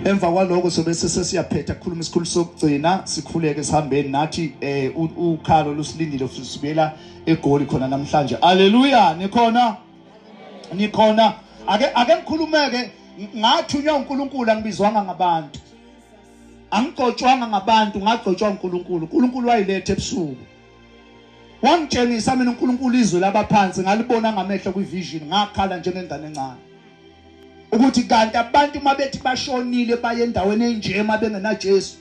Emva kwaloko sobe sesiyaphetha kukhuluma isikhulu sokugcina sikhuleke sihambeni nathi eh ukhalo lusilindile futhi sibuyela egoli khona namhlanje. Haleluya nikhona nikhona ake ake ngikhulumeke ngathunywa uNkulunkulu angibizwanga ngabantu angigcotshwanga ngabantu ngagcotshwa uNkulunkulu uNkulunkulu wayiletha ebusuku wangitshengisa mina uNkulunkulu izwe labaphansi ngalibona ngamehlo kwivision ngakhala njengengane encane ukuthi kanti abantu uma bethi bashonile baye endaweni enje uma bengenaJesu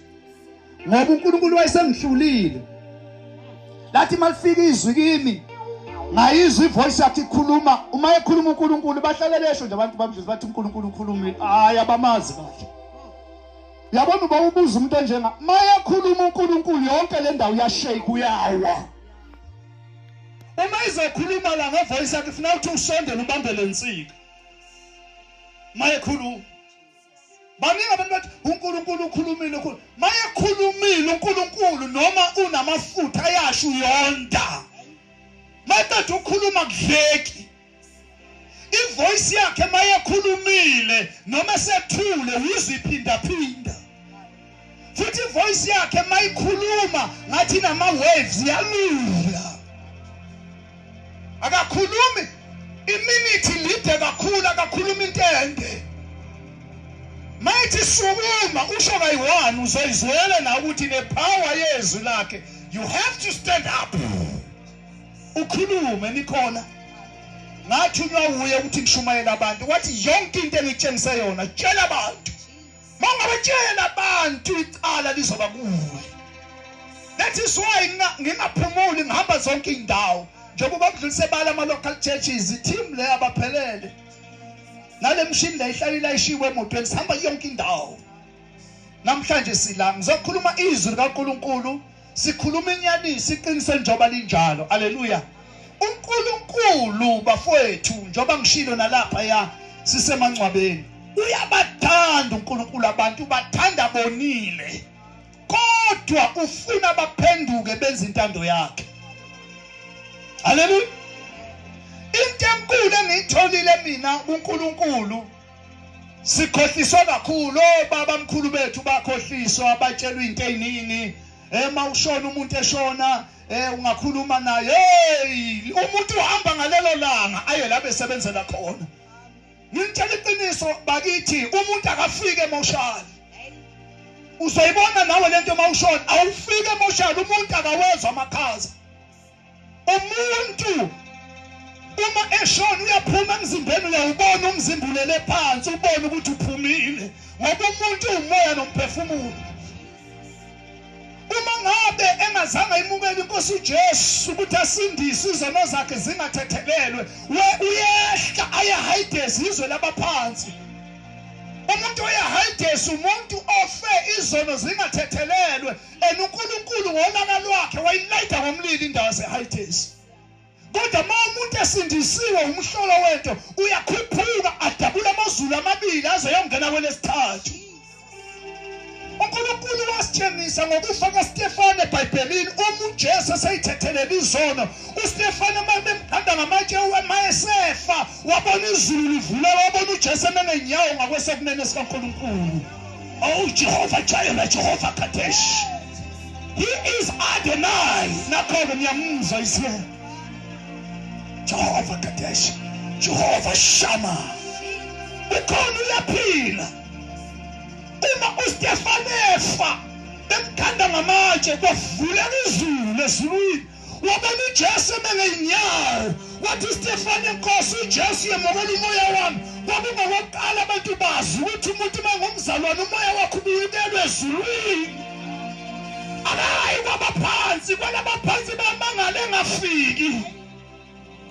ngoba uNkulunkulu wayesengihlulile lathi malifika izwi kimi ngayizwa ivoice yakhe ikhuluma uma ekhuluma uNkulunkulu bahlale besho nje abantu bamjizwa bathi uNkulunkulu ukhulumile hayi abamazi kahle yabona uba ubuza umuntu onjenga mayekhuluma uNkulunkulu yonke le ndawo yashake uyawa uma izokhuluma la ngevoice yakhe funa ukuthi usondele ubambe le nsika mayekhuluma baningi abantu bathi uNkulunkulu ukhulumile ukhulu mayekhulumile uNkulunkulu noma unamafutha ayasho uyonda maqeda ukukhuluma kudleki ivoice yakhe mayekhulumile noma sethule uziphindaphinda futhi ivoice yakhe mayikhuluma ngathi nama waves yalula akakhulumi iminute lide kakhulu akakhuluma into ende mayithi sukuma usho kayi-one uzoyizwela nawe ukuthi ne-power yezwi lakhe you have to stand up ukhulume nikhona ngathunywa wuye ukuthi ngishumayele abantu wathi yonke into engitshengise yona tshela abantu mangabatshela abantu icala lizoba kuwe that is why ngingaphumuli ngihamba zonke iy'ndawo njengoba kudlulise bala ama-local churches i-team le abaphelele nale mshini le ihlale ilayishiwe emotweni sihamba yonke indawo namhlanje sila ngizokhuluma izwi likaNkuluNkulu sikhuluma inyaniso iqiniso njengoba linjalo aleluya uNkulunkulu bafowethu njengoba ngishilo nalapha ya sisemangcwabeni uyabathanda uNkulunkulu abantu ubathanda bonile kodwa ufuna baphenduke benze intando yakhe haleluya into enkulu engiyitholile mina kuNkulunkulu sikhohliswa kakhulu obaba oh, mkhulu bethu bakhohliswa abatshelwa into eziningi ema eh, ushona umuntu eshona eh ungakhuluma naye hey umuntu uhamba ngalelo langa aye la besebenzela khona ngitshela iqiniso bakithi umuntu akafike emoshali uzoyibona nawe lento uma ushona awufike emoshali umuntu akawezwa amakhaza umuntu uma eshona uyaphuma emzimbeni uyawubona umzimba ulele phansi ubone ukuthi uphumile ngoba umuntu uwumoya nomphefumulo uma ngabe engazange imukele inkosi ujesu ukuthi asindise izono zakhe zingathethelelwe we uyehla ayahayidezi izwe labaphansi umuntu oyahayidesi umuntu ofe izono zingathethelelwe and uNkulunkulu ngolaka lwakhe wayilayida ngomlilo indawo yaseHightays kodwa uma umuntu esindisiwe umhlolo wento uyakhuphuka adabula amazulu amabili aze yongena kwelesithathu uNkulunkulu wasitshengisa ngokufa kaStefane eBhayibhelini uma uJesu eseyithethelele izono uStefane uma bemganda ngamatshe uma esefa wabona izulu livuleka wabona uJesu emenenyawo ngakwesokunene sikaNkulunkulu Oh, Jehovah Jireh, Jehovah Kadesh. He is Adonai. Nakhona ngiyamuzwa isiye. Jehovah Kadesh, Jehovah Shammah. Ukhona uyaphila. Uma uStefane efa, bemkhanda ngamatshe kwavuleka izulu ezulwini. wabona uJesu emengezinyawo wathi Stefane Nkosi uJesu yemukela umoya wami kwakungokokuqala abantu bazi ukuthi umuntu mangumzalwane umoya wakho ubuyibelwe ezulwini akayi kwabaphansi kwalabaphansi bamangale engafiki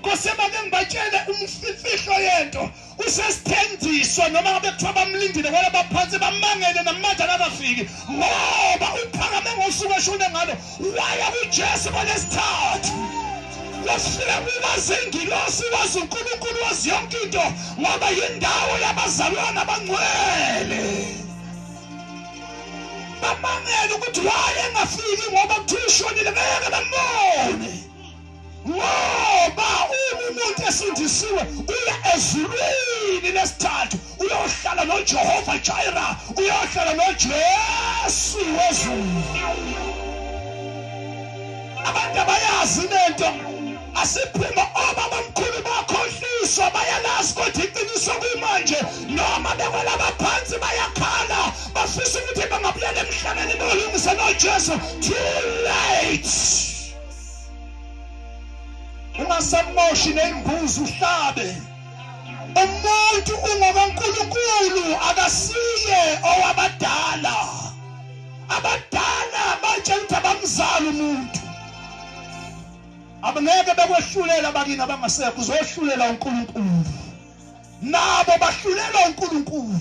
Kose make ngibatshele umfihlo yento usesithendiso noma ngabe kuthiwa bamlindile kwala baphansi bamangele namanje akakafiki ngoba uphakame ngosuku eshone ngalo waya kuJesu kwanesithathu wafika kubazingilosi wazi uNkulunkulu wazi yonke into ngoba yindawo yabazalwana abangcwele bamangele ukuthi waye engafiki ngoba kuthiwa ushonile ngeke bambone ngoba uma umuntu esindisiwe uya ezulwini lesithathu uyohlala nojehova jaira uyohlala nojesu wezulu abantu abayazi lento asiphuma obabamkhulu bakhohliswa bayalazi kodwa iqiniso kumanje noma bekwelaba phansi bayakhala bafisa ukuthi bangabuyela emhlabeni bolungise nojesu too late ungasamoshi nembuzi uhlabe umuntu ungokaNkulunkulu akasiye owabadala abadala batshela ukuthi abamzali umuntu abangeke bekwehlulela bakini abangasekho uzohlulela uNkulunkulu nabo bahlulelwa uNkulunkulu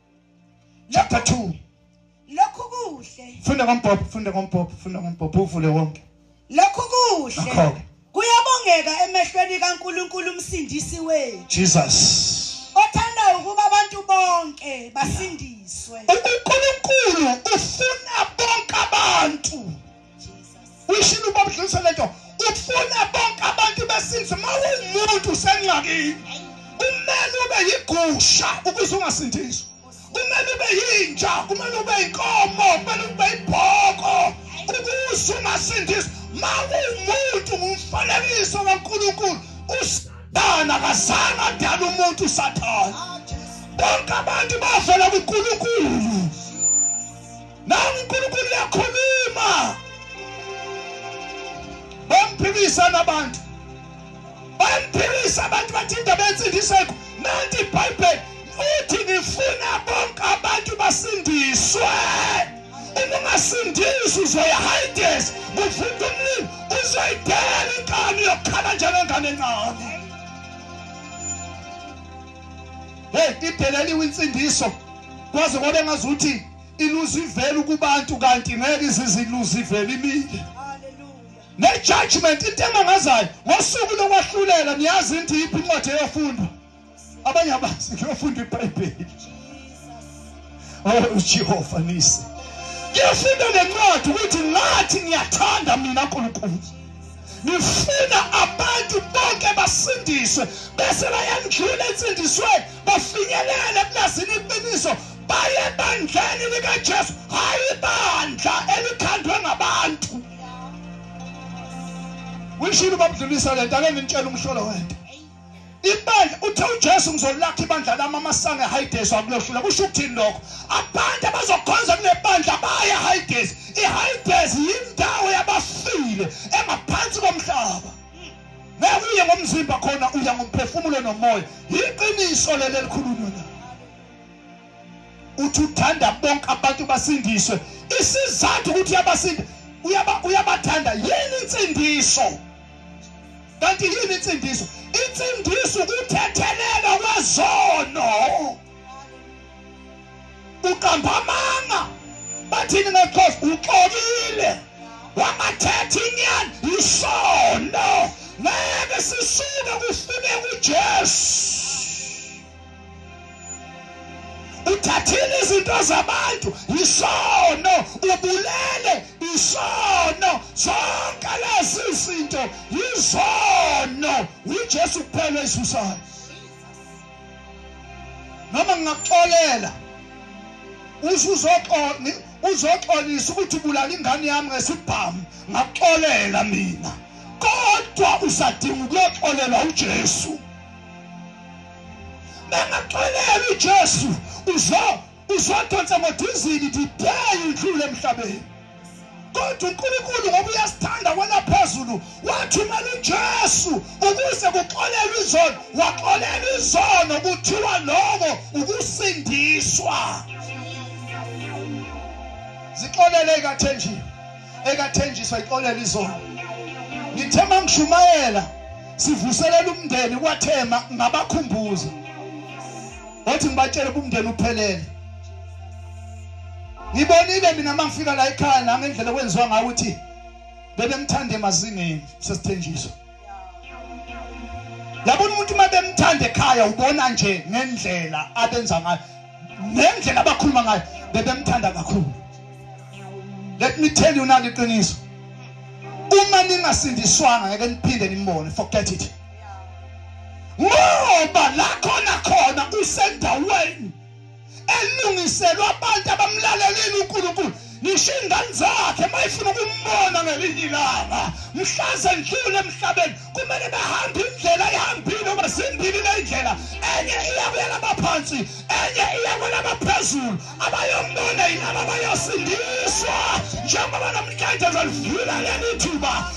Chapter 2. Lokhu kuhle. Funda ngombhobho, funda ngombhobho, funda ngombhobho uvule wonke. Lokhu kuhle. Kuyabongeka emehlweni kaNkuluNkulu umsindisi wethu. Jesus. Othanda ukuba abantu bonke basindiswe. UNkuluNkulu ufuna bonke abantu. uyishini uba budlulise le nto ufuna bonke abantu besinzi uma uwumuntu usengxakini kumele ube yigusha ukuze ungasindiswa kumele ube yinja kumele ube inkomo kumele ube ibhoko ukuze ungasindiswa uma uwumuntu ngumfanekiso kankulunkulu usathana akazange adala umuntu usathana bonke abantu bavela kunkulunkulu Nangu uNkulunkulu uyakhuluma. Bamphikisa nabantu. Bamphikisa abantu bathi indaba yensindiseko. Nanti iBhayibheli uthi ngifuna bonke abantu basindiswe. Uma ungasindisi uzoyahayidez kuvunda umlilo uzoyidela inkani yokukhala njengengane encane. Hey, ideleliwe insindiso kwaze kwabe ngazuthi iluzivela ukubantu kanti ngeke iziziluzivela imile ne-judgment into emangazayo ngosuku lokwahlulela niyazi into yiphi incwadi eyofundwa abanye abazi kuyofunda ibhayibheli oh jehova nise kuyofunda nencwadi ukuthi ngathi ngiyathanda mina nkulunkulu ngifuna abantu bonke basindiswe bese bayandlula ensindisweni bafinyelele eplazini iqiniso baye ebandleni likaJesu hayi ibandla elikhandwe ngabantu wishilo babudlulisa lento ake ngintshela umhlolo wento ibandla uthe uJesu ngizolakha ibandla lami amasange ehayidesi akulohlula kusho ukuthini lokho abantu abazokhonza kule bandla baye ehayidesi ihayidesi yindawo yabafile engaphansi komhlaba ngeke uye ngomzimba khona uya ngomphefumulo nomoya yiqiniso leli elikhulunywa uthi uthanda bonke abantu basindiswe isizathu ukuthi uyabasinda uyaba uyabathanda yini insindiso kanti yini insindiso insindiso ukuthethelelwa kwezono uqamba amanga bathini ngexhosa uxolile wangathetha inyani isono ngeke sisuke kufune kujesu uthathile izinto zabantu yisono ubulele isono zonke lezi zinto yizono uJesu kuphela isusayo noma ngingakuxolela usuzoxola uzoxolisa ukuthi ubulala ingane yami ngesibhamu ngakuxolela mina kodwa usadinga ukuyoxolelwa uJesu bengaxoleli uJesu uzo uzodonsa ngodizini the day idlule emhlabeni kodwa uNkulunkulu ngoba uyasithanda kwena phezulu wathumela uJesu ukuze kuxolelwe izono waxolela izono kuthiwa lokho ukusindiswa zixolele kathenjini ekathenjiswa ixolela izolo ngithe mangishumayela sivuselela umndeni kwathema ngabakhumbuza wathi ngibatshele ubumndeni uphelele ngibonile mina mangifika la ekhaya nangendlela kwenziwa ngayo ukuthi bebemthanda emazingeni sesithenjiswa yabona umuntu uma bemthanda ekhaya ubona nje ngendlela abenza ngayo ngendlela abakhuluma ngayo bebemthanda kakhulu let me tell you nalo iqiniso uma ningasindiswanga ngeke niphinde nimbone forget it ngoba la khona khona usendaweni elungiselwe abantu abamlalelile uNkulunkulu ngisho ingane zakhe mayifuna ukumbona ngelinye ilanga mhlaze ndlule emhlabeni kumele bahambe indlela ihambile uma zimbili lendlela enye iya kwelaba phansi enye iya kwelaba phezulu abayombona yilaba bayosindiswa njengoba namhlanje zalivula leli thuba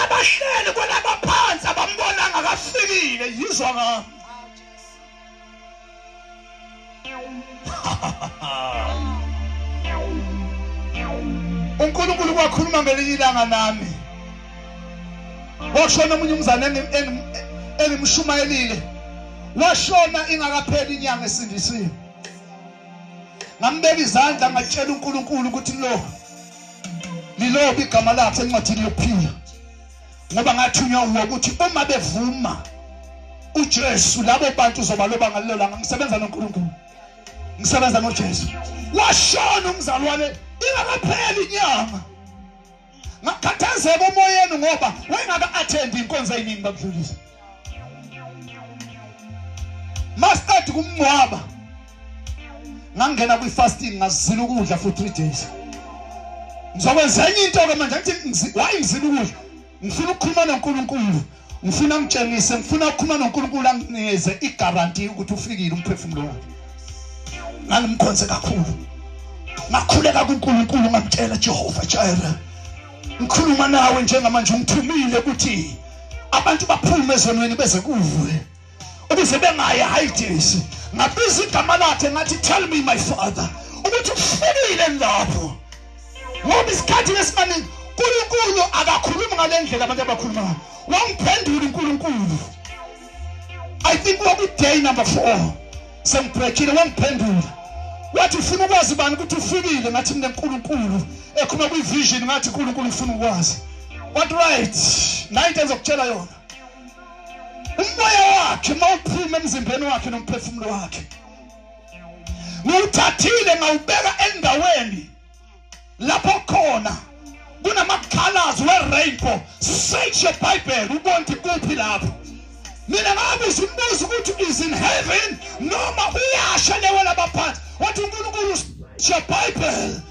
abahleli kwalaba phansi abambonanga kafikile yizwa ngami uNkulunkulu kwakhuluma ngelinye ilanga nami washona omunye umzane engimshumayelile washona ingakapheli inyanga esindisiwe ngambeka izandla ngatshela uNkulunkulu ukuthi lo lilobe igama lakhe encwadini yokuphila ngoba ngathunywa uwe ukuthi uma bevuma uJesu labo bantu uzobaloba ngalelo langa ngisebenza noNkulunkulu ngisebenza noJesu washona umzalwane ingakapheli inyanga ngakhathazeka umoyeni ngoba wayengaka attend inkonzo eyiningi bakudlulisa mastad kumngcwaba ngangena kwi fasting ngazila ukudla for 3 days ngizokwenza enye into ke manje ngithi why ngizila ukudla ngifuna ukukhuluma noNkulunkulu ngifuna ngitshengise ngifuna ukukhuluma noNkulunkulu anginikeze igaranti ukuthi ufikile umphefumulo wakhe ngangimkhonze kakhulu ngakhuleka kuNkulunkulu ngamtshela Jehova Jireh ngikhuluma nawe njengamanje ungithumile ukuthi abantu baphume ezonweni beze kuwe ukuze bengaye hayi jesu ngabiza igama lakhe ngathi tell me my father ukuthi ufikile lapho ngoba isikhathi lesimaningi uNkulunkulu akakhulumi ngalendlela abantu abakhuluma ngayo wangiphendula uNkulunkulu I think waku day number 4 sengibhekile wangiphendula wathi ufuna ukwazi bani ukuthi ufikile ngathi mina uNkulunkulu ekhuluma kwi vision ngathi uNkulunkulu ufuna ukwazi what right nayi into ezokutshela yona umoya wakhe mawuphuma emzimbeni wakhe nomphefumulo wakhe ngiwuthathile ngawubeka endaweni lapho khona kunamakhalazi we-rainbow search your bible ubone ukuthi kuphi lapho mina ngabuza umbuzo ukuthi is in heaven noma uyasha lewe labaphansi wathi unkulunkulu your bible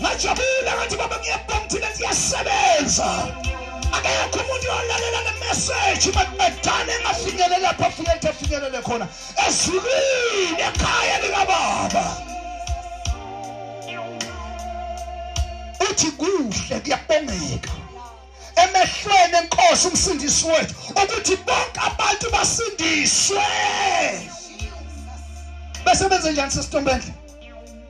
ngajabula ngathi baba ngiyabhanga thina siyasebenza akekho umuntu olalela le message madana engafinyele lapho afike ethi afinyelele khona ezulwini ekhaya likababa uthi kuhle kuyabongeka emehlweni enkosi umsindisi wethu ukuthi bonke abantu basindiswe bese benze njani sesitombendle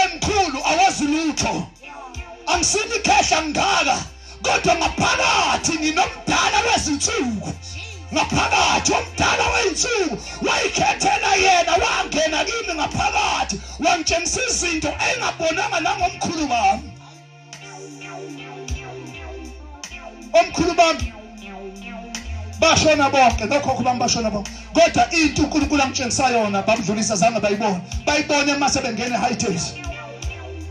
emkhulu awazi lutho angisini khehla ngaka kodwa ngaphakathi nginomdala wezinsuku ngaphakathi omdala weyinsuku wayikhethela yena wangena kimi ngaphakathi wangitshengisa izinto engabonanga nangomkhulu wami omkhulu bami bashona bonke nokhokho bami bashona bonke kodwa into uNkulunkulu angitshengisa yona babudlulisa zange bayibone bayibone uma sebengene high taste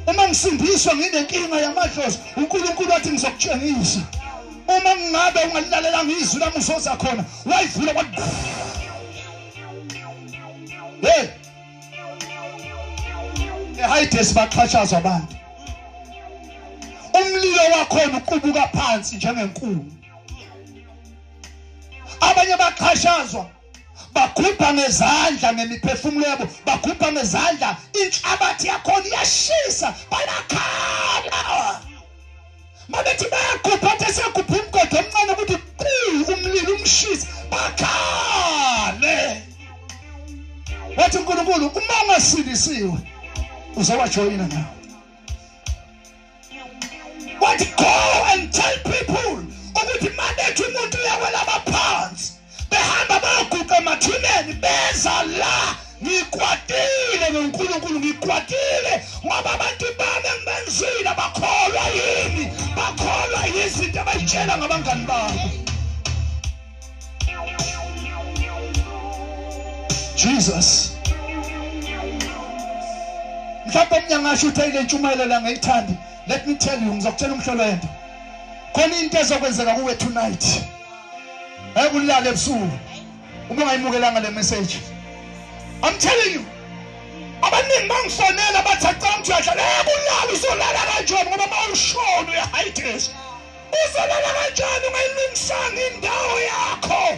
uma ngisindiswa nginenkinga yamadlozi uNkulunkulu wathi ngizokutshengisa uma ngingabe ungalilalelanga izwi lami uzoza khona wayivula kwathi hey eHides baxhatshazwa abantu umlilo wakhona uqubuka phansi njengenkulu abanye baxhashazwa bakhupha ngezandla ngemiphefumulo yabo bakhupha ngezandla inhlabathi yakhona iyashisa bayakhala mabethi bayagubha athe siyagubha umgodo omncane ukuthi quu umlilo umshisi bakhale wathi unkulunkulu uma ungasindisiwe uzowajoyina nawo wathi go and tell people ukuthi mabethi umuntu uyawela abaphansi behamba bayoguqa emathuneni beza la ngikwatile ngonkulunkulu ngikwatile ngoba abantu bami engibenzile bakholwa yini bakholwa yizinto abayitshela ngabangani babo jesus mhlawumbe mina ngasho ukuthi ayile ntshumayelo la ngayithandi let me tell you ngizokutshela umhlolo wento khona into ezokwenzeka kuwe tonight Hey kulala ebusuku. Uma ungayimukelanga le message. I'm telling you. Abaningi bangifonela bathi acanga ukuthi uyadlala. Hey kulala uzolala kanjani ngoba mawushona uyahightaste. Uzolala kanjani ungayilungisanga indawo yakho.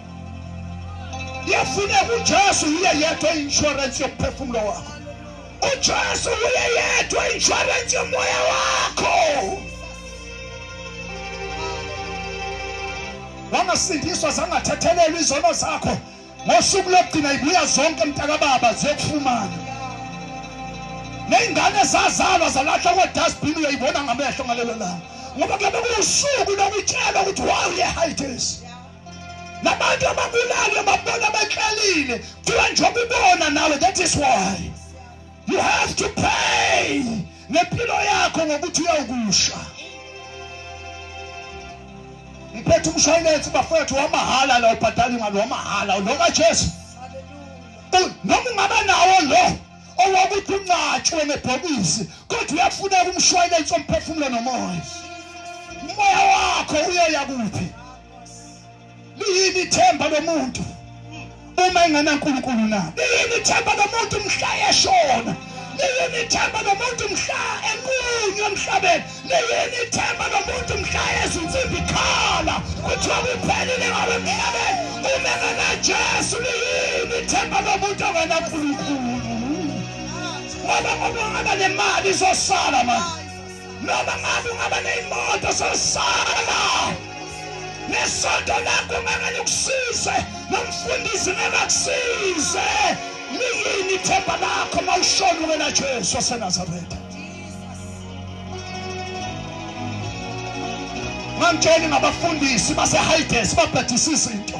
yafuneka ujesu yiye yedwa i-inshorensi yokuphefumulo wakho ujesu wuye yedwa i-inshorensi yomoya wakho wangasindiswa zangathethelelwa izono zakho ngosuku lokugcina ibuya zonke mntakababa ziyokufumana ney'ngane zazalwa zalahlwa kwe-dustbin uyoyibona ngamehlo ngalelo langa ngoba kuyabe kuwusuku lokutshelwa ukuthi wawuyehayitesi nabantu ababulali ababona bekhalile kuthiwa njengoba ubona nawe that is why you have to pay ngempilo yakho ngokuthi uyawukusha ngiphethe umshwayilensi bafowethu wamahhala la ubhadala imali wamahhala lo kajesu noma ungaba nawo lo owakuthi uncatshwe ngebhokisi kodwa uyafuneka umshwayilensi omphefumulo nomoya umoya wakho uyoya kuphi liyini ithemba lomuntu uma engenankulunkulu na liyini ithemba lomuntu mhla eshona liyini ithemba lomuntu mhla enqunywa emhlabeni liyini ithemba lomuntu mhla ezinsimbi khala kuthiwa kuphelile ngabe emhlabeni uma engenajesu liyini ithemba lomuntu ongenankulunkulu ngoba ngoba ngaba nemali izosala manje noma ngabe ungaba neyimoto sosala nesonto lakho ngangane kusize nomfundisi ngakakusize liyini ithemba lakho mawushona wena Jesu waseNazaretha mangitsheli ngabafundisi baseHides babhadisisa into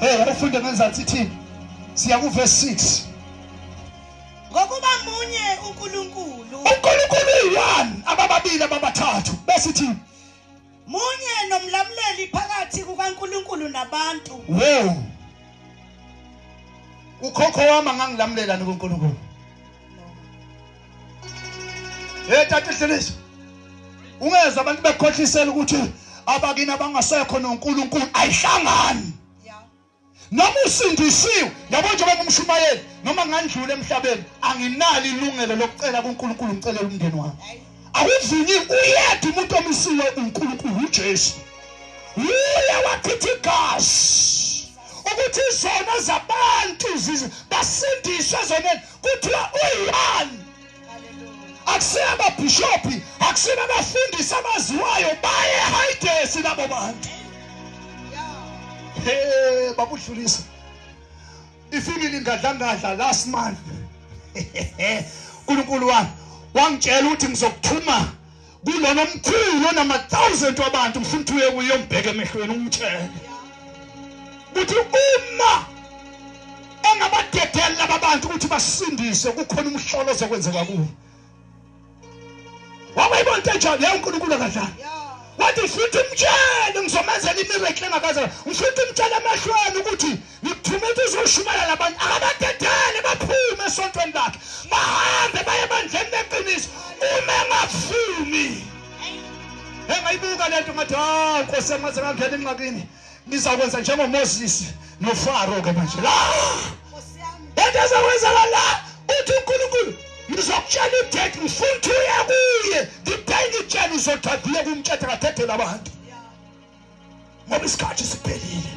Hey, abafunde benzathi thini? Siya ku verse 6. Ngokuba munye uNkulunkulu. uNkulunkulu uyi-one abababili ababathathu bese ithi Munye nomlamuleli phakathi kukaNkulunkulu nabantu. wo ukhokho wami angangilamulelani kuNkulunkulu Hey tata Dleliso. Ungeza abantu bekhohlisela ukuthi abakini abangasekho noNkulunkulu ayihlangani. Noma usindisiwe, yabo nje bengumshumayeli, noma ngandlula emhlabeni, anginalo ilungelo lokucela kuNkulunkulu ngicelela umndeni wami. Awuvunyi uyedwa umuntu omisiwe uNkulunkulu uJesu. Uye wachithi igazi. ukuthi izono zabantu basindiswe ezonweni kuthiwa uyani akusiyo amabhishophi akusiyo abafundisi abaziwayo baye hayidesi labo bantu he babudlulisa ifimile ingadlangadla last month uNkulunkulu wami wangitshela ukuthi ngizokuthuma kulona omkhulu onama-thousand wabantu ngifuna ukuthi uye kuye umbheke emehlweni umtshele ukuthi uma engabadedeli laba bantu ukuthi basindise kukhona umhlolo ozokwenzeka kuwo wawayibona into enjalo leyo unkulunkulu akadlali wathi ngifuna ukuthi umtshele ngizomenzela imirekle engakaza ngifuna ukuthi umtshele emehlweni ukuthi Ngithuma ukuthi uzoshumayela abantu akabadedele baphume esontweni lakhe bahambe baye ebandleni leqiniso uma engavumi engayibuka lento ngathi hawu nkosi yami ngaze ngangena enqakini ngizakwenza njengomoses nofaro ke manje la into ezokwenzeka la uthi unkulunkulu ngizokutshela idate ngifuna ukuthi uye kuye ngibheke itshela uzothatha uye kumtshetha ngathethela abantu ngoba isikhathi siphelile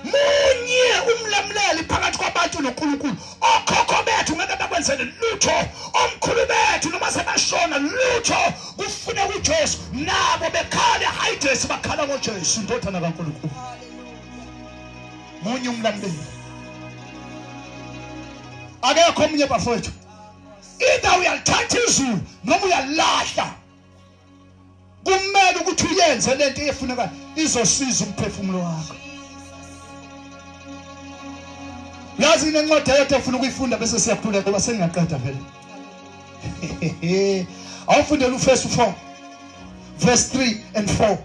munye umlamuleli phakathi kwabantu noNkulunkulu okhokho bethu ngeke bakwenzele lutho omkhulu bethu noma sebashona lutho kufune kuJesu nabo bekhale hayi Jesu bakhala ngoJesu indodana kaNkulunkulu munye umlamuleli akekho omunye bafowethu either uyalithatha izulu noma uyalilahla kumele ukuthi uyenze lento efuneka izosiza umphefumulo wakho yazi inencwadi ayethe efuna ukuyifunda bese siyakhuleka ngoba sengiyaqeda vele awufundela ufesi 4 verse 3 and 4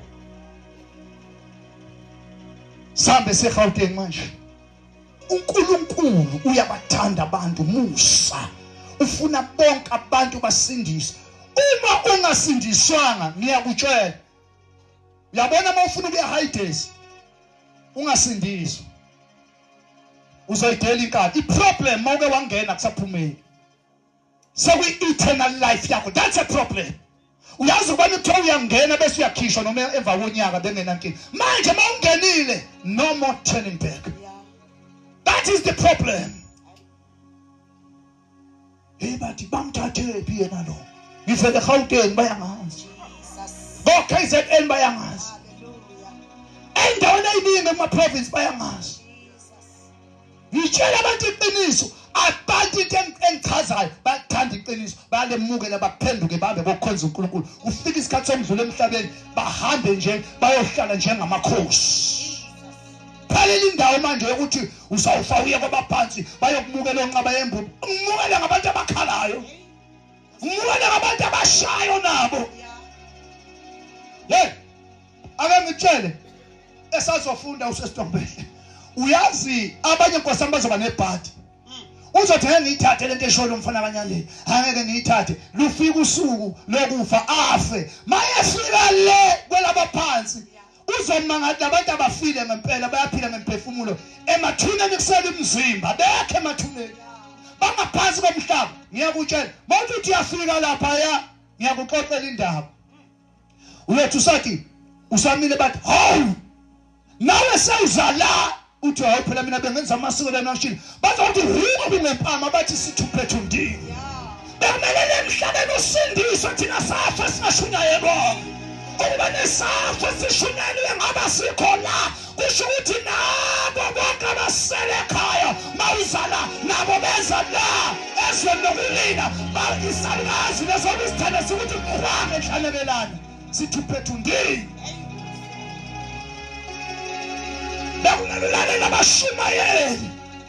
sambe segauteng manje uNkulunkulu uyabathanda abantu musa ufuna bonke abantu basindiswe uma ungasindiswanga ngiyakutshela uyabona uma ufuna ukuya hides ungasindiswa uzoyidela inkani iproblem mawuke wangena kusaphumeli sekuyi-eternal life yakho that's a problem uyazi ukubana kuthiwa uyangena bese uyakhishwa noma emva konyaka bengenankinga manje uma ungenile no more turning back that is the problem hey bathi bamthathephi yena lo ngivele gauteni bayangazi ko-k z n bayangazi endaweni eyiningi emaprovinsi bayangazi Ngitshela abantu iqiniso abantu into engichazayo bathanda iqiniso bayalemukela baphenduke bahambe bokhonza uNkulunkulu kufika isikhathi somdlula emhlabeni bahambe nje bayohlala njengamakhosi phalela indawo manje yokuthi uzawufa uye kwabaphansi bayokumukela onqaba yembubu umukela ngabantu abakhalayo umukela ngabantu abashayo nabo hey ake ngitshele esazofunda usesitombele uyazi abanye nkosami bazoba nebhadi uzothi ngeke ngiyithathe lento esholo umfana abanyandeni angeke ngiyithathe lufika usuku lokufa afe mayefika le kwelabaphansi uzoma ngathi abantu abafile ngempela bayaphila ngemphefumulo emathuneni kusele umzimba bekhe emathuneni bangaphansi komhlaba ngiyakutshela mawuthi uyafika lapha ya ngiyakuxoxela indaba ulethu sathi usamile bathi hawu nawe sewuzala uthi hawu phela mina bengenza amasiko lena ngishini bazothi huko kunempama bathi sithuphethu ndini bemelele emhlabeni usindiswe thina safa singashunyayelwanga ukuba nesafo sishunyayelwe ngaba sikho la kusho ukuthi nabo bonke abasele ekhaya mawuzala nabo beza la ezweni lokulina isalukazi lesona isithanda sikuthi qwa enhlanebelane sithi phethu ndini bekunelulane nabashumayeli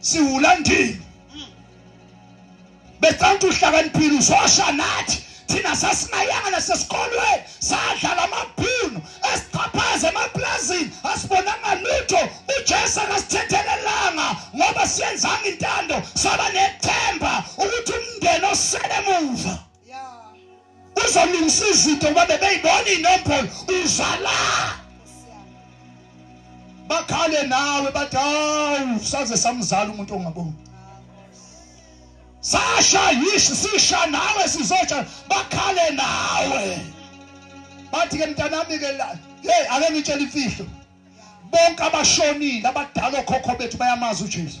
siwula ndini becanti uhlakaniphile uzosha nathi thina sasinayanga nasesikolweni sadlala amabhunu esichaphaze emaplazini asibonanga lutho ujesu akasithethelelanga ngoba siyenzanga intando saba nethemba ukuthi umndeni osele muva uzolungisa izinto ngoba bebeyibona inombolo uzala bakhale nawe bathi hawu saze samzala umuntu ongaboni sasha yishi sisha nawe sizotsha bakhale nawe bathi ke mntanami ke la hey ake ngitshele imfihlo bonke abashonile abadala okhokho bethu bayamazi uJesu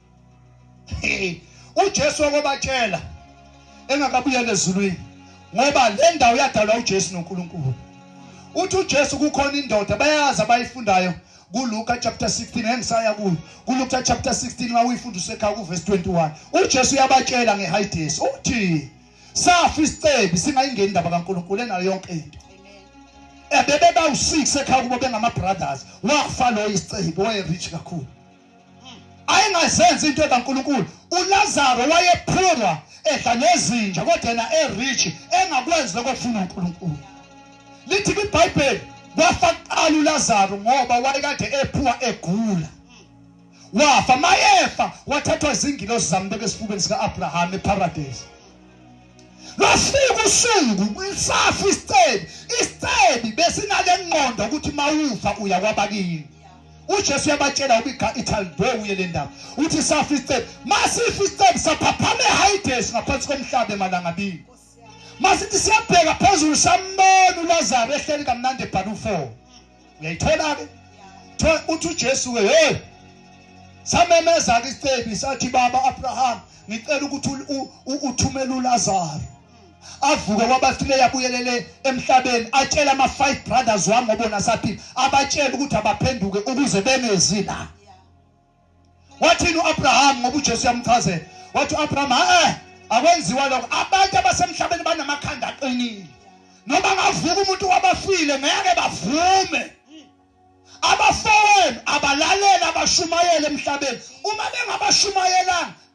uJesu wakobatshela engakabuyela ezulwini ngoba le ndawo yadalwa uJesu noNkulunkulu uthi uJesu kukhona indoda bayazi abayifundayo kuLuka chapter 16 engisaya kuyo kuLuka chapter 16 mawuyifunda usekhaya kuverse 21 uJesu uyabatshela ngehayidesi uthi safa isicebi singayingeni indaba kaNkulunkulu enayo yonke into ebebe bawu6 ekhaya kubo bengama brothers wafa lo isicebi waye rich kakhulu ayengazenzi into ekaNkulunkulu uLazaro wayephurwa edla nezinja kodwa yena erich engakwenzi lokho kufuna uNkulunkulu lithi kwiBhayibheli wafa kuqala uLazaro ngoba wayekade ephuwa egula wafa mayefa wathathwa izingilosi zambeka esifubeni sika-abrahama eparadesi Lwafika usuku kulisafa isicebi isicebi besinale nqondo ukuthi mawufa uya kwabakini uJesu uyabatshela ubika ithaldo uye le ndawo uthi safa isicebi masifa isicebi saphaphama eHides ngaphansi komhlaba emalangabini masithi siyabheka phezulu sambona uLazaro ehleli kamnandi ebhala u4 uyayithola ke thola uthi uJesu ke hey samemeza ke isicebi sathi baba Abraham ngicela ukuthi uthumele uLazaro avuke kwabafileyo abuyelele emhlabeni atshela ama five brothers wami ngobona saphila abatshela ukuthi abaphenduke ukuze bengezi la wathini uAbraham ngoba uJesu yamchazela wathi uAbraham eh akwenziwa lokho abantu abasemhlabeni banamakhanda aqinile noma ngavuka umuntu wabafile ngeke bavume abafowenu abalalela abashumayele emhlabeni uma bengabashumayelanga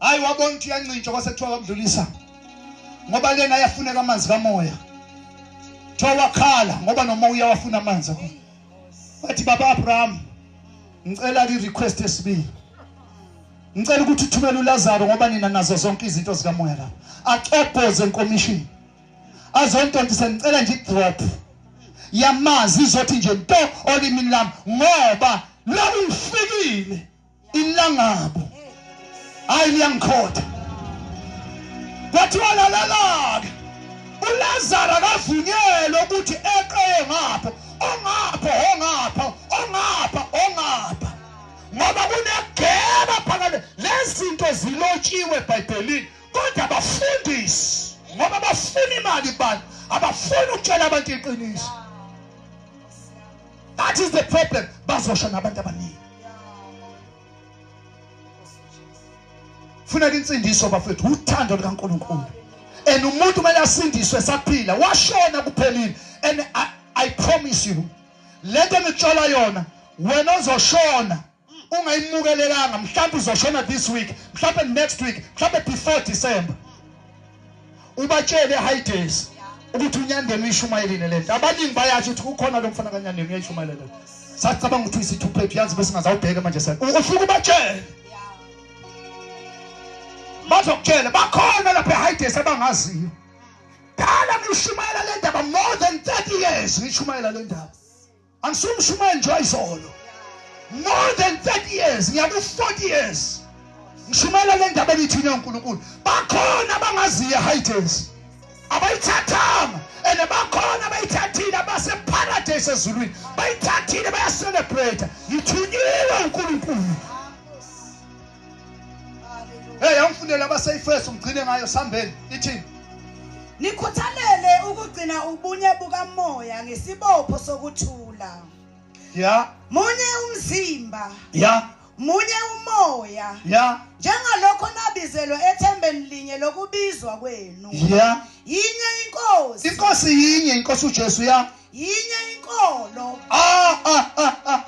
hayi wabona ukuthi uyancintsha kwase kuthiwa kamdlulisa ngoba lena ayafuneka amanzi kamoya kuthiwa wakhala ngoba nomoya uyawafuna amanzi akho wathi baba abraham ngicela i-request esibili ngicela ukuthi uthumele ulazaro ngoba nina nazo zonke izinto zikamoya lapha axobhoze enkomishini azontontisa ngicela nje idrop yamanzi izothi nje nto olimini lami ngoba lakufikile ilangabo hayi liyangikhotha kwathiwa lalela-ke ulazaro akavunyelwe ukuthi eqeye ngapho ongapho ongapho ongapha ongapha ngoba kunegeba phakade lezinto zilotshiwe ebhayibhelini kodwa bafundisi ngoba bafuna imali bani abafuni ukutshela abantu iqiniso that is the problem bazosha nabantu abaningi funeka insindiso bafethu uthando likaNkuluNkulu and umuntu kumele asindiswe saphila washona kuphelile and I, I promise you lento engitshola yona wena ozoshona ungayimukelelanga mhlawumbe uzoshona this week mhlawumbe next week mhlawumbe before december ubatshele high days ukuthi unyandeni uyishumayelile le nto abaningi bayasho ukuthi kukhona lo mfana kanyandeni uyayishumayela le sacabanga ukuthi uyisithuphephi yazi bese ngazawubheke manje sa ufike ubatshele bazokutshela bakhona lapha e-high days abangaziyo dala ngishumayela le ndaba more than 30 years ngishumayela le ndaba angisumshumayeli nje wayizolo more than 30 years ngiya ku 40 years ngishumayela le ndaba engithini yonkulunkulu bakhona abangaziyo hightails abayithathanga and bakhona abayithathile abaseparadise ezulwini bayithathile bayacelebrate ngithunyiwe unkulunkulu Hey awufundele abaseyiFirst ugcine ngayo sambeni ithini Nikhuthalele ukugcina ubunye bukamoya ngesibopho sokuthula Ya Munye umzimba Ya Munye umoya Ya Njengalokho nabizelwe ethembeni linye lokubizwa kwenu Ya Yinye inkosi Inkosi yinye inkosi uJesu ya yinye inkolo ah, ah,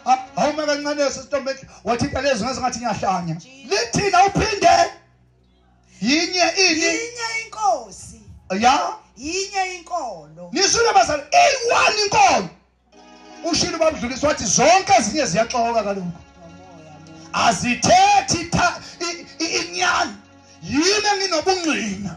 ah, awume kancane sesitombe wathi impela ezwi ngathi ngiyahlanya lithina uphinde yinye ini yinye inkosi ya yinye inkolo nisule bazali eyi-one inkolo ushilo babudlulisa wathi zonke ezinye ziyaxoka kaloku azithethi inyani yini enginobungqina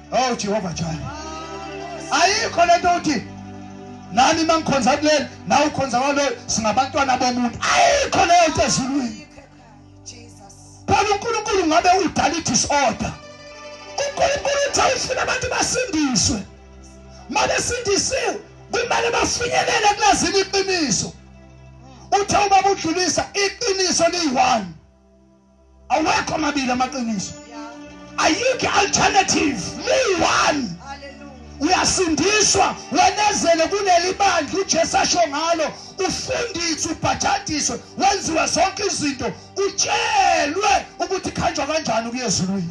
Oh Jehova Jaya. Ayikho lento uthi nani mangikhonza kuleli nawe ukhonza kwaloyo singabantwana bomuntu. Ayikho leyo nto ezulwini. Phela uNkulunkulu ngabe udala idisorder. uNkulunkulu uthi awufuna abantu basindiswe. Mabesindisiwe kumele bafinyelele kulazini iqiniso. Uthe ubaba udlulisa iqiniso liyi-one. awekho amabili amaqiniso ayikho alternative mu one uyasindiswa wenezele kuleli bandla ujesu asho ngalo ufundiswe ubhajadiswe wenziwe zonke izinto utshelwe ukuthi khanjwa kanjani ukuya ezulwini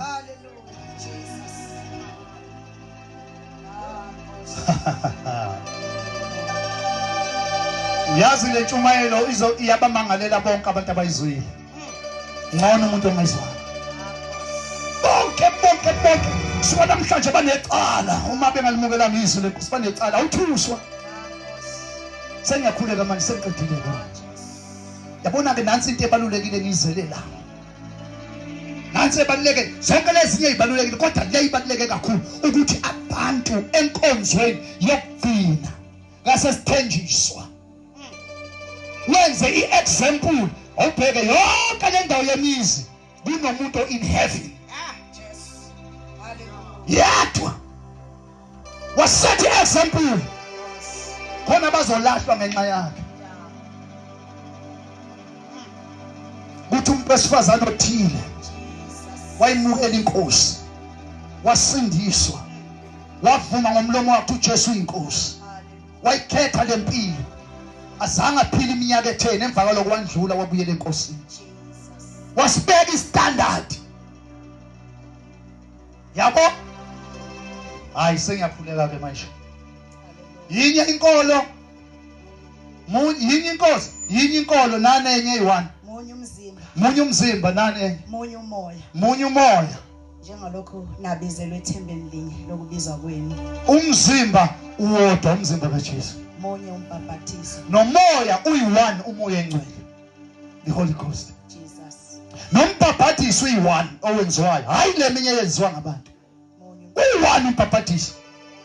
uyazi le ntshumayelo iyabamangalela bonke abantu abayizwile ngcono umuntu ongezwanga bonke bonke bonke suka namhlanje banecala uma bengalimukelanga izwi lenkosi banecala awuthuswa sengiyakhuleka manje sengiqedile manje yabona-ke nansi into ebalulekile ngiyizele la nansi ebaluleke zonke lezinye ibalulekile kodwa le ibaluleke kakhulu ukuthi abantu enkonzweni yokugcina ngasesithenjiswa wenze i-example awubheke yonke le ndawo yemizi kunomuntu in heaven ah, yedwa wasethi i-example khona bazolahlwa ngenxa yakhe kuthi umuntu wesifazane othile wayimukela inkosi wasindiswa wavuma ngomlomo wakhe uJesu inkosi wayikhetha le mpilo azange aphile iminyaka etheni emva kwaloko wandlula wabuyela enkosini wasibeka istandard yabo hayi sengiyakhuleka ke manje yinye inkolo yinye inkosi yinye inkolo nane enye eyi-one munye umzimba nane enye munye umoya munye umoya njengalokhu nabizelwe ethembeni linye lokubizwa kwenu umzimba uwodwa umzimba kaJesu munye umbhaphathiso nomoya uyi-one umoya engcwele the holy ghost jesus nombhaphathiso uyi-one owenziwayo hhayi le minye eyenziwa ngabantu uyi-one umbhaphathiso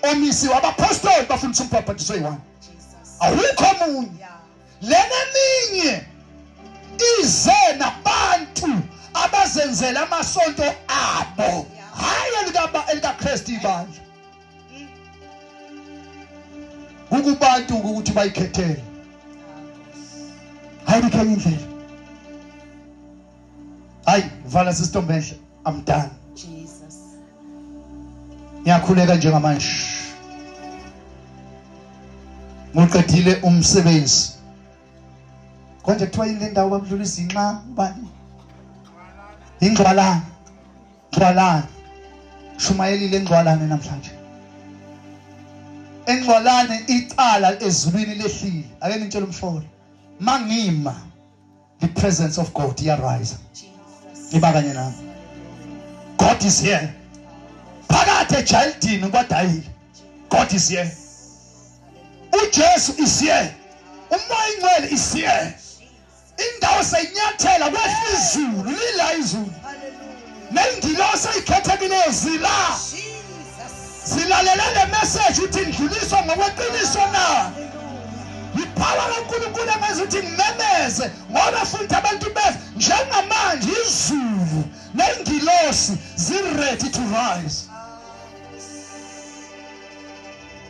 omisiwe abapostoli bafundisa umbhaphathiso oyi-one awukho omunye lena eminye ize nabantu abazenzela amasonto abo hhayi elikakristu ibandla kukubantu ukuthi bayikhethele hhayi likhenye indlela hayi vala sisitombe enhle i'm done jesus ngiyakhuleka njengamanje ngiqedile umsebenzi konje kuthiwa yini le ndawo babudlula izinxa ubani ingcwalana ngcwalana shumayelile engcwalane namhlanje engcwalane icala ezulwini lehlile ake nitshele umfowethu mangima the presence of God iyarise iba kanye nami God is here phakathi ejayidini kwadayile God is here uJesu is here umoya ingcwele is here indawo seyinyathela kwehla izulu lila izulu nengilosi eyikhethekileyo zila zilalele le message uthi ndluliswa ngokweqiniso na yiphawula lonkulunkulu engenza ukuthi ngimemeze ngoba futhi abantu beza njengamanje izulu nengilosi ziready to rise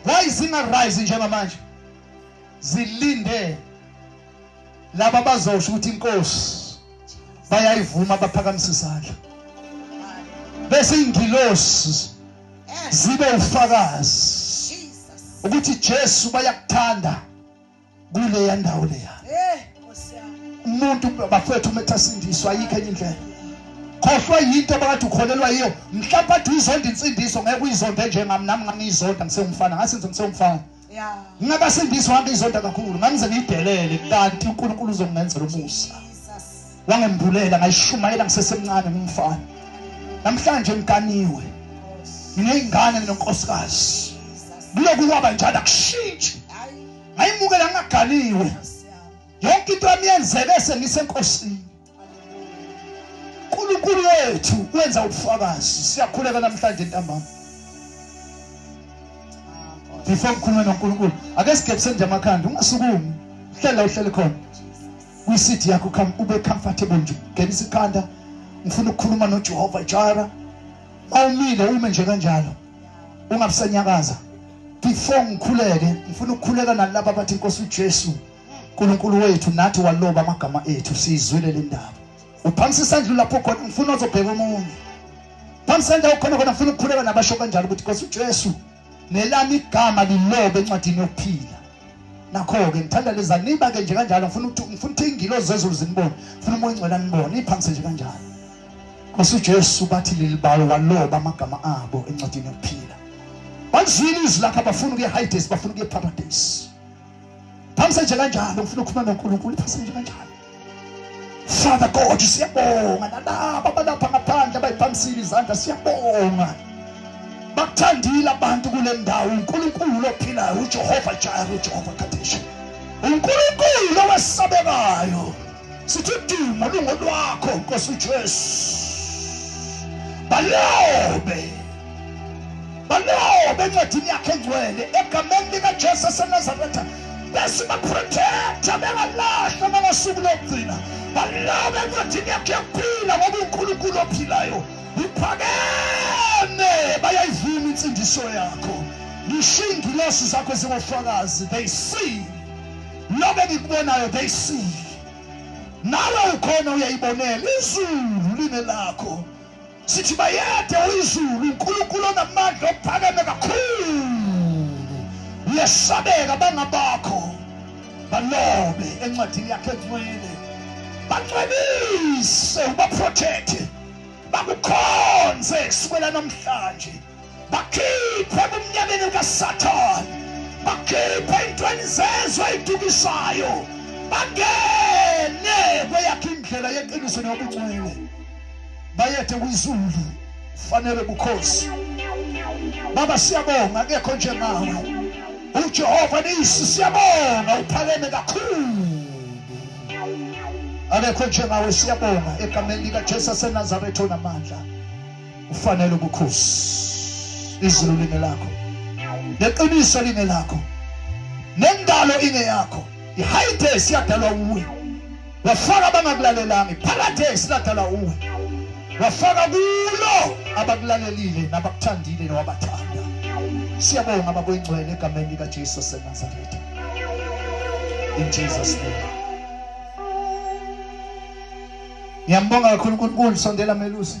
why zingarise njengamanje zilinde laba bazosho ukuthi inkosi bayayivuma baphakamisa izandla bese ingilosi zibe ufakazi ukuthi Jesu bayakuthanda kule yandawo leya eh, umuntu bafethu umetha sindiswa ayikho enye indlela khohlwa yinto abakade ukholelwa yiyo mhlawumbe athi uyizonda insindiso ngeke uyizonde njengami nami ngangiyizonda ngisewumfana ngasenze ngisewumfana ngingabasindisi wami izonda kakhulu ngangize ngiyidelele kanti unkulunkulu uzongenzela umusa wangembulela ngayishumayela ngisesemncane ngumfana namhlanje ngiganiwe nginey'ngane nginonkosikazi kuloku kwaba njalo akushintshi ngayimukela ngingaganiwe yonke into yami yenzeke sengisenkosini uNkulunkulu wethu wenza ubufakazi siyakhuleka namhlanje ntambama before ngikhulume noNkulunkulu ake sigebise nje amakhanda ungasukumi hlela uhlele khona kwi-seat yakho come ube comfortable nje ngenisa ikhanda ngifuna ukukhuluma noJehova Jara awumile ume nje kanjalo ungabusanyakaza before ngikhuleke ngifuna ukukhuleka nalabo abathi inkosi uJesu uNkulunkulu wethu nathi waloba amagama ethu siyizwile le ndaba uphamisa isandla lapho khona ngifuna uzobheka omunye phamisa indawo khona khona ngifuna ukukhuleka nabasho kanjalo ukuthi Nkosi uJesu nelami igama lilobe encwadini yokuphila nakho-ke ngithanda leza niba-ke nje kanjalo ngifuna ukuthi ngifuna ukuthi iy'ngilo zezulu zinibone ngifuna umoya ingcwela nibone iphamise nje kanjalo nkosi ujesu bathi leli bawo waloba amagama abo encwadini yokuphila bazwile izwi lakhe abafuna ukuye hidesi bafuna ukuye paradise phasa nje kanjalo ngifuna ukukhuluma noNkulunkulu phasa nje kanjalo Father God siyabonga nalabo abalapha ngaphandle abayiphamisile izandla siyabonga bakuthandile abantu kule ndawo uNkulunkulu ophilayo uJehova Jireh uJehova Kadesh uNkulunkulu owesabekayo sithi udumo lungolwakho nkosi ujesu balobe balobe encwadini yakhe engcwele egameni likajesu esenazaretha bese baprotecta bengalahlwa nangasuku lokugcina balobe encwadini yakhe yokuphila ngoba unkulunkulu ophilayo uphakeme bayayivuma insindiso yakho ngisho iingilosi zakho zingofakazi they see Lokho engikubonayo they see. Nawe ukhona uyayibonela izulu line lakho. Sithi bayede uyizulu uNkulunkulu onamandla ophakeme kakhulu. Uyesabeka bangabakho. Balobe encwadini yakhe ngcwele. Bangcwelise ubaprotect. Bakukhonze kusukela namhlanje. bakhiphe ebumnyameni kasathane bakhiphe intweni zezwe eyidukiswayo bangene kweyakhe indlela yeqiniso nobungcwele bayethe kwizulu fanele bukhosi baba siyabonga akekho njengawe ujehova nisi siyabonga uphakeme kakhulu akekho njengawe siyabonga egameni likajesu asenazaretha onamandla ufanele ubukhosi izulu lingelakho neqiniso lingelakho nendalo ingeyakho ihayidesi yadalwa uwe wafaka abangakulalelanga ipharadesi ladalwa uwe wafaka kulo abakulalelile nabakuthandile nowabathanda siyabonga babuyingcwele egameni likajesu senazaretha in jesus name ngiyambonga kakhulu unkulunkulu sondela melusi